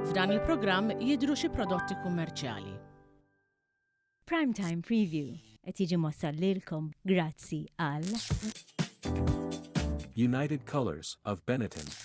F'dan il-programm jidhru xi prodotti kummerċjali. Prime Time Preview qed jiġi mwassal lilkom grazzi għal. United Colors of Benetton.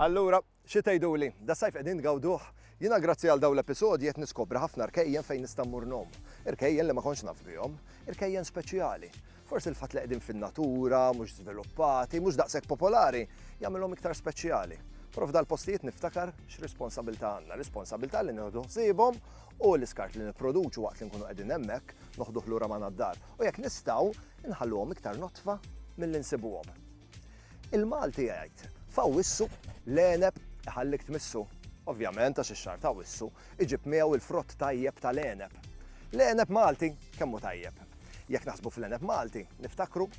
Allura, xi tgħiduli, das-sajf qegħdin tgawduh? Jiena grazzi għal dawn l-episodji qed niskopri ħafna rkejjen fejn nista' mmur ngħum. Irkejjen li ma kontx naf bihom. Irkejjen speċjali. Forsi l-fatt li qegħdin fin-natura, mhux żviluppati, mhux daqshekk popolari, jagħmilhom iktar speċjali. Però f'dal postijiet niftakar x'responsabilità għandna, responsabilità li nieħdu ħsiebhom u l-iskart li nipproduċu waqt li nkunu qegħdin hemmhekk noħduh lura ma' nad-dar. U jekk nistgħu, nħalluhom iktar notfa mill-insibuhom. Il-Malti jgħid, f'Awwissu l-għeneb iħallik tmissu. Ovvjament għax ix-xahar ta' Awwissu iġib miegħu l-frott tajjeb tal-għeneb. L-għeneb Malti kemm hu tajjeb. Jekk naħsbu fl-għeneb Malti, niftakru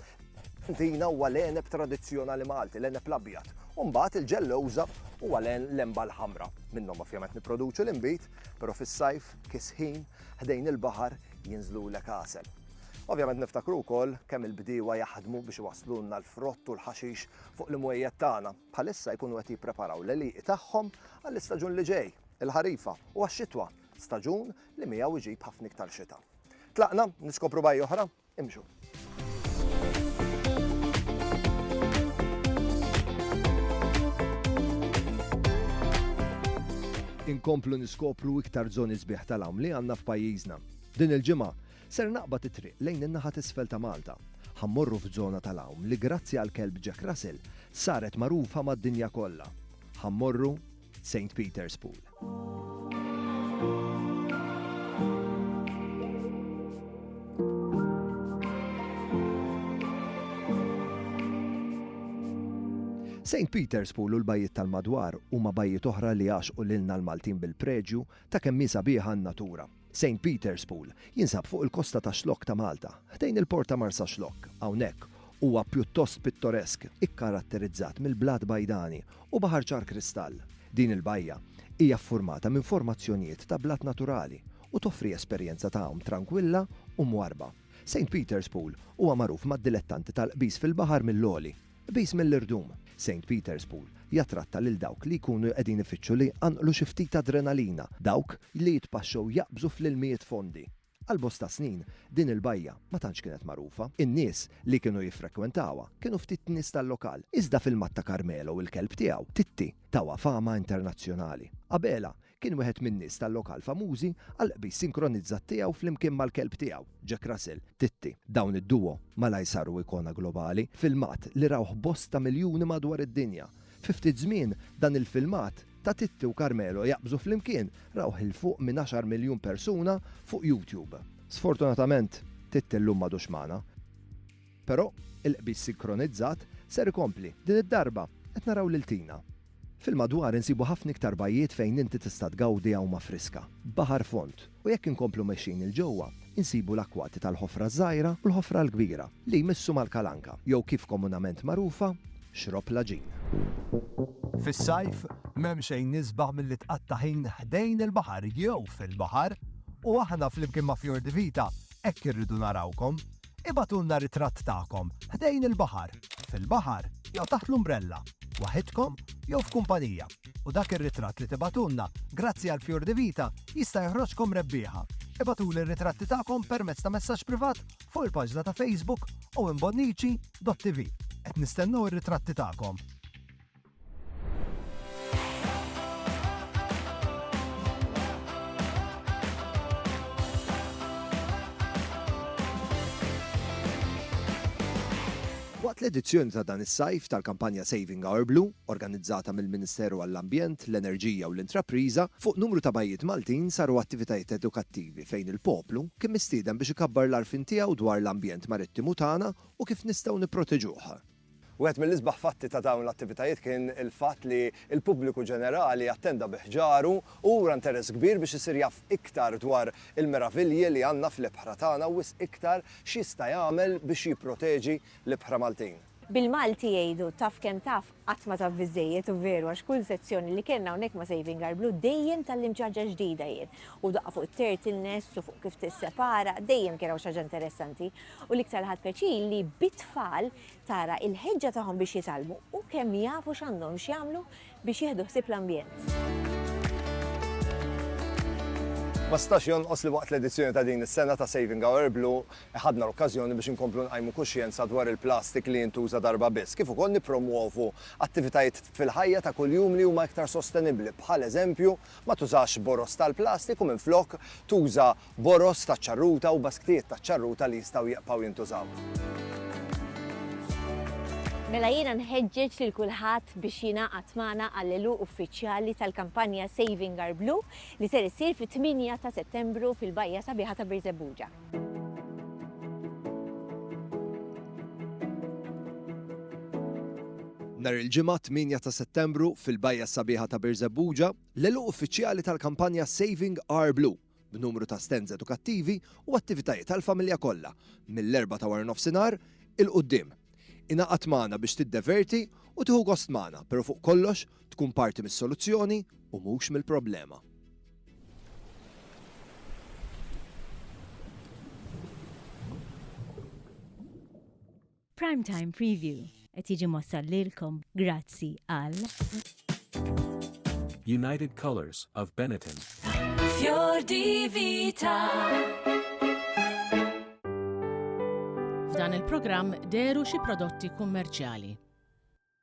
Tina huwa l-għeneb tradizzjonali Malti, l-għeneb l-abjad. Umbagħad il-ġellewża huwa l-emba l-ħamra. Minnhom ovvjament nipproduċu l-inbid, però fis-sajf, kisħin, ħdejn il-baħar jinżlu l-ekasel. Ovvjament niftakru wkoll kemm il-bdiewa jaħdmu biex iwasslulna l-frott u l-ħaxix fuq l-imwejjed tagħna. Bħalissa jkunu qed jippreparaw l-għelieqi tagħhom għall-istaġun li ġej, il-ħarifa, u għax-xitwa, staġun li miegħu jġib ħafna iktar xita. Tlaqna niskopru bajja oħra? Imxu! Inkomplu niskopru iktar żoni sbieħ tal-għawm li għandna f'pajjiżna. Din il-ġimgħa, ser naqbad it-triq lejn in-naħa t'isfel ta' Malta. Ħa mmorru f'żona tal-għawm li grazzi għall-kelb Jack Russell saret magħrufa mad-dinja kollha. Ħa mmorru Saint Peter's Pool. St. Peter's Pool u l-bajjiet tal-madwar huma bajjiet oħra li għaxqu lilna l-Maltin bil-preġju ta' kemm hi sabiħa n-natura. Saint Peter's Pool jinsab fuq il-kosta ta' Xlokk ta' Malta, ħdejn il-port ta' Marsaxlokk. Hawnhekk huwa pjuttost pittoresk, ikkaratterizzat mill-blat bajdani u baħar ċar kristall. Din il-bajja hija ffurmata minn formazzjonijiet ta' blat naturali u toffri esperjenza ta' għawm trankwilla u mwarrba. Saint Peter's Pool huwa magħruf mad-dilettanti tal-qbiż fil-baħar mill-għoli. Qbiż mill-irdum, Saint Peter's Pool jattratta lil dawk li jkunu qegħdin ifittxu li jqanqlu xi ftit adrenalina, dawk li jitpaxxew jaqbżu fl-ilmijiet fondi. Għal bosta snin, din il-bajja ma tantx kienet magħrufa. In-nies li kienu jiffrekwentawha kienu ftit nies tal-lokal, iżda fil-Matta Carmelo u l-kelb tiegħu, Titti, tawha fama internazzjonali. Qabelha, Kien wieħed min-nies tal-lokal famużi għall-qbiż sinkronizzat tiegħu flimkien mal-kelb tiegħu, Jack Russell, Titti. Dawn id-duo malajr saru ikona globali, filmat li rawh bosta miljuni madwar id-dinja. Fi ftit żmien, dan il-filmat ta' Titti u Carmelo jaqbżu flimkien rawh 'il fuq minn għaxar miljun persuna fuq YouTube. Sfortunatament, Titti llum m'għadux magħna. Però, il-qbiż sinkronizzat ser ikompli. Din id-darba, qed naraw lil Tina. Fil-madwar insibu ħafna iktar bajjiet fejn inti tista' tgawdi għawma friska, baħar fond, u jekk inkomplu mexjin 'il ġewwa, insibu l-akkwati tal-Ħofra ż-Żgħira u l-Ħofra l-Kbira, li jmissu mal-Kalanka, jew kif komunament magħrufa, Xrob Laġin. Fis-sajf, m'hemm xejn isbaħ milli tqatta' ħin ħdejn il-baħar jew fil-baħar, u aħna flimkien ma' Fjordivita hekk irridu narawkom. Ibagħtulna ritratt tagħkom ħdejn il-baħar, fil-baħar jew taħt l-umbrella, waħidkom jew f'kumpanija, u dak ir-ritratt li tibagħtulna grazzi għal Fjur di Vita jista' joħroġkom rebbieħa. Ibagħtuli r-ritratti tagħkom permezz ta' messaġġ privat fuq il-paġna ta' Facebook owenbonnici.tv. Qed nistennew ir-ritratti tagħkom! Waqt l-edizzjoni ta' dan is-sajf tal-kampanja Saving Our Blue, organizzata mill-Ministeru għall-Ambjent, l-Enerġija u l-Intrapriża, fuq numru ta' bajjiet Maltin saru attivitajiet edukattivi fejn il-poplu kien mistieden biex ikabbar l-għarfien tiegħu dwar l-ambjent marittimu tagħna u kif nistgħu nipproteġuh. Wieħed mill-isbaħ fatti ta' dawn l-attivitajiet kien il-fatt li l-pubbliku ġenerali attenda bi ħġaru u ura nteress kbir biex isir jaf iktar dwar il-meravilji li għandna fl-ibħra tagħna u wisq iktar x'jista' jagħmel biex jipproteġi l-ibħra Maltin. Bil-Malti jgħidu, taf kemm taf, qatt ma taf biżżejjed u veru għax kull sezzjoni li kellna hawnhekk ma' Saving Our Blue dejjem tgħallimt xi ħaġa ġdida jien. U daqqa fuq it-turtlenests u fuq kif tissepara, dejjem kien hawn xi ħaġa interessanti. U l-iktar ħadt pjaċir li bit-tfal tara il-ħeġġa tagħhom biex jitgħallmu u kemm jafu x'għandhom x'jagħmlu biex jieħdu ħsieb l-ambjent. Ma stax jonqos li waqt l-edizzjoni ta' din is-sena ta' Saving Our Blue ħadna l-okkażjoni biex inkomplu nqajmu kuxjenza dwar il-plastik li jintuża darba biss, kif ukoll nippromwovu attivitajiet fil-ħajja ta' kuljum li huma iktar sostenibbli, bħal eżempju ma tużax boroż tal-plastik u minflok tuża boroż taċ-ċarruta u basktijiet taċ-ċarruta li jistgħu jieqbgħu jintużaw. Mela jiena nħeġġeġ lil kulħadd biex jingħaqad magħna għall-għeluq uffiċjali tal-kampanja Saving Our Blue li ser issir fit-8 ta' Settembru fil-bajja sabiħa ta' Birżebbuġa. Nhar il-ġimgħa 8 ta' Settembru fil-bajja sabiħa ta' Birżebbuġa, l-għeluq uffiċjali tal-kampanja Saving Our Blue. b'numru ta' stands edukattivi u attivitajiet għall-familja kollha mill-Erbgħa ta' waranofsinhar 'il quddiem. Ingħaqad magħna biex tiddeverti u tieħu gost magħna, pero' fuq kollox tkun parti mis-soluzzjoni u mhux mill-problema. Prime Time Preview qed jiġi mossal lilkom grazzi għal United Colors of Benetton. Fjor Divita. F'dan il-programm deru xi prodotti kummerċjali.